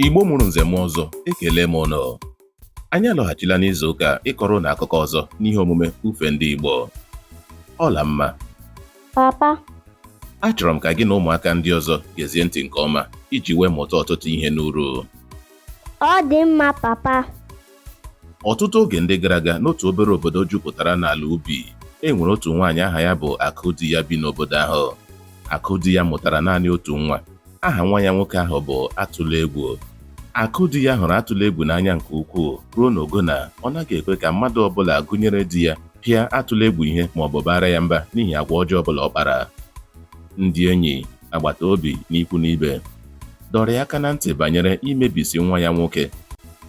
Igbo mụrụ nze mụọ ọzọ ekelee m ụnụ anyị alọghachila n'izu ụka a ịkọrọ ụnụ akụkọ ọzọ n'ihe omume ufe ndị Igbo Ọlamma papa achọrọ m ka gị na ụmụaka ndị ọzọ gezie ntị nke ọma iji wee mụta ọtụtụ ihe n'uru ọ dị mma papa ọtụtụ oge ndị gara aga n'otu obere obodo jupụtara n'ala ubi e nwere otu nwaanyị aha ya bụ Akụdiya bi n'obodo ahụ Akụdiya mụtara naanị otu nwa aha nwa ya nwoke ahụ bụ Atụlegwu Akụdiya hụrụ Atụlegwu n'anya nke ukwuu ruo n'ogo na ọ naghị ekwe ka mmadụ ọbụla gụnyere di ya pịa Atụlegwu ihe ma ọ bụ baara ya mba n'ihi agwa ọjọọ ọbụla ọ kpara ndị enyi agbata obi na ikwu na ibe dọrọ ya aka na ntị banyere imebisi nwa ya nwoke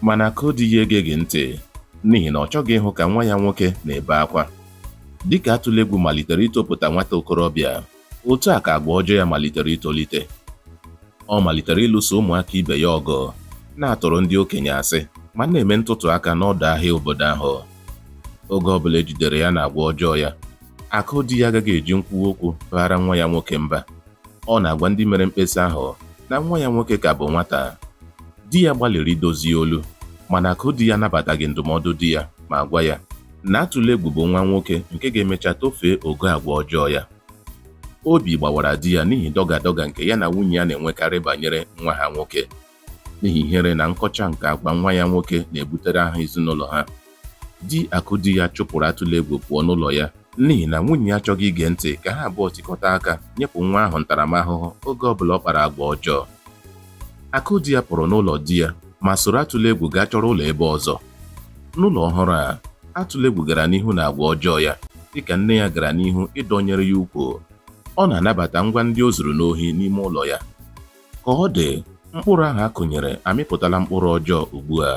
mana Akụdiya egeghị ntị n'ihi na ọ chọghị ịhụ ka nwa ya nwoke na-ebe akwa dịka atụlegwu malitere itopụta nwata okorobịa otu a ka agwa ọjọọ ya malitere itolite ọ malitere ịlụso ụmụaka ibe ya ọgụ na-atụrụ ndị okenye asị ma na-eme ntụtụ aka n'ọdọ ahịa obodo ahụ oge ọbụla e jidere ya na agwa ọjọọ ya Akụdiya agaghị eji nkwuwa okwu baara nwa ya nwoke mba. Ọ na-agwa ndị mere mkpesa ahụ na nwa ya nwoke ka bụ nwata. Di ya gbalịrị idozi olu, mana Akụdiya anabataghị ndụmọdụ di ya ma gwa ya na Atụlegwu bụ nwa nwoke nke ga-emecha tofee ogo agwa ọjọọ ya. Obi gbawara di ya n'ihi dọga dọga nke ya na nwunye ya na-enwekarị banyere nwa ha nwoke. n'ihi ihere na nkọcha nke agwa nwa ya nwoke na-ebutere aha ezinụlọ ha. Di Akụdiya chụpụrụ Atụlegwu pụọ n'ụlọ ya n'ihi na nwunye ya achọghị ige ntị ka ha abụọ tikọta aka nyepụ nwa ahụ ntaramahụhụ oge ọbụla ọ kpara agwa ọjọọ. Akụdiya pụrụ n'ụlọ di ya ma soro Atụlegwu gaa chọrọ ụlọ ebe ọzọ. N'ụlọ ọhụrụ a, Atụlegwu gara n'ihu na agwa ọjọọ ya dịka nne ya gara n'ihu ịdọnyere ya ukwu. Ọ na-anabata ngwa ndị o zuru n'ohi n'ime ụlọ ya. Ka ọ dị, mkpụrụ ahụ a kụnyere amịpụtala mkpụrụ ọjọọ ugbu a.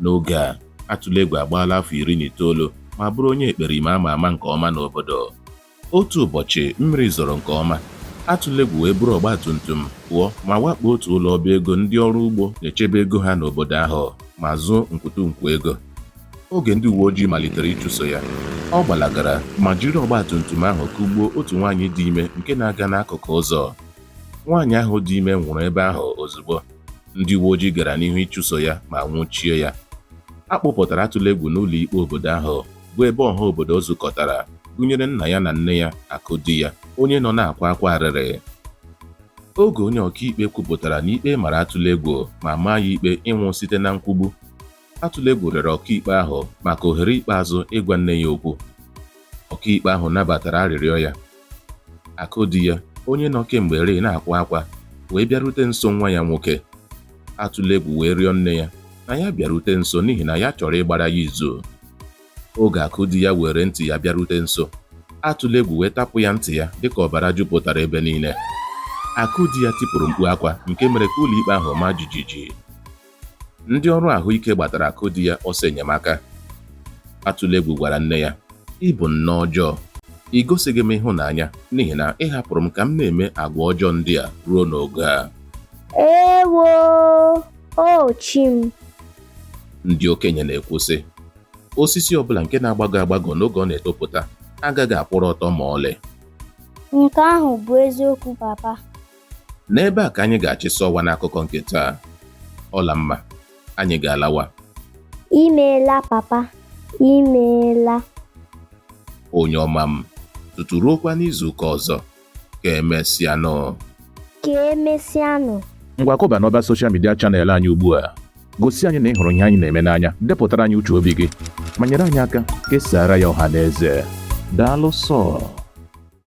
N'oge a, Atụlegwu agbaala afọ iri na itoolu ma bụrụ onye ekperima a ma ama nke ọma n'obodo. Otu ụbọchị, mmiri zoro nke ọma, Atụlegwu wee buru ọgba tum tum pụọ ma wakpo otu ụlọ ọba ego ndị ọrụ ugbo na-echebe ego ha n'obodo ahụ ma zuo nkwụtụ nkwu ego. Oge ndị uwe ojii malitere ịchụso ya, ọ gbalagara ma jiri ọgba tum tum ahụ kụgbuo otu nwaanyị dị ime nke na-aga n'akụkụ ụzọ. nwaanyị ahụ dị ime nwụrụ ebe ahụ ozugbo ndị uwe ojii gara n'ihu ịchụso ya ma nwụchie ya a kpụpụtara Atụlegwu n'ụlọ ikpe obodo ahụ bụ ebe ọha obodo zukọtara gụnyere nna ya na nne ya Akụdiya onye nọ na-akwa akwa arịrị oge onye ọkaikpe kwupụtara na ikpe mara Atụlegwu ma maa ya ikpe ịnwụ site na nkwugbu Atụlegwu rịọrọ ọkaikpe ahụ maka ohere ikpeazụ ịgwa nne ya okwu. Ọkaikpe ahụ nabatara arịrịọ ya. Akụdiya, onye nọ kemgbe rịị na-akwa akwa, wee bịarute nso nwa ya nwoke. Atụlegwu wee rịọ nne ya na ya bịarute nso n'ihi na ya chọrọ ịgbara ya izu. Oge Akụdiya weere ntị ya bịarute nso, Atụlegwu wee tapụ ya ntị ya dịka ọbara jupụtara ebe niile. Akụdiya tipụrụ mkpu akwa nke mere ka ụlọikpe ahụ maa jijiji. Ndị ọrụ ahụike gbatara Akụdiya ọsọ enyemaka. Atụlegwu gwara nne ya, Ị bụ nne ọjọọ. Ị gosighị m ịhụnanya n'ihi na ị hapụrụ m ka m na-eme agwa ọjọọ ndị a ruo n'oge a. Ewo! O chi m! Ndị okenye na-ekwu sị, osisi ọbụla nke na-agbagọ agbagọ n'oge ọ na-etopụta agaghị akwụrụ ọtọ ma ọlị. Nke ahụ bụ eziokwu papa. N'ebe a ka anyị ga-achịsa ọwa n'akụkọ nke taa. Ọlamma, anyị ga-alawa. Imeela papa, imeela. Onye ọma m, tutu ruokwa n'izu ụka ọzọ, ka emesịanụ. Ka emesịanụ. Ngwa kọba n'ọba soshal midia chanel anyị ugbu a. Gosi anyị na ị hụrụ ihe anyị na-eme n'anya, depụtara anyị uche obi gị, ma nyere anyị aka kesaara ya ọha na eze. Daalụ sọọ.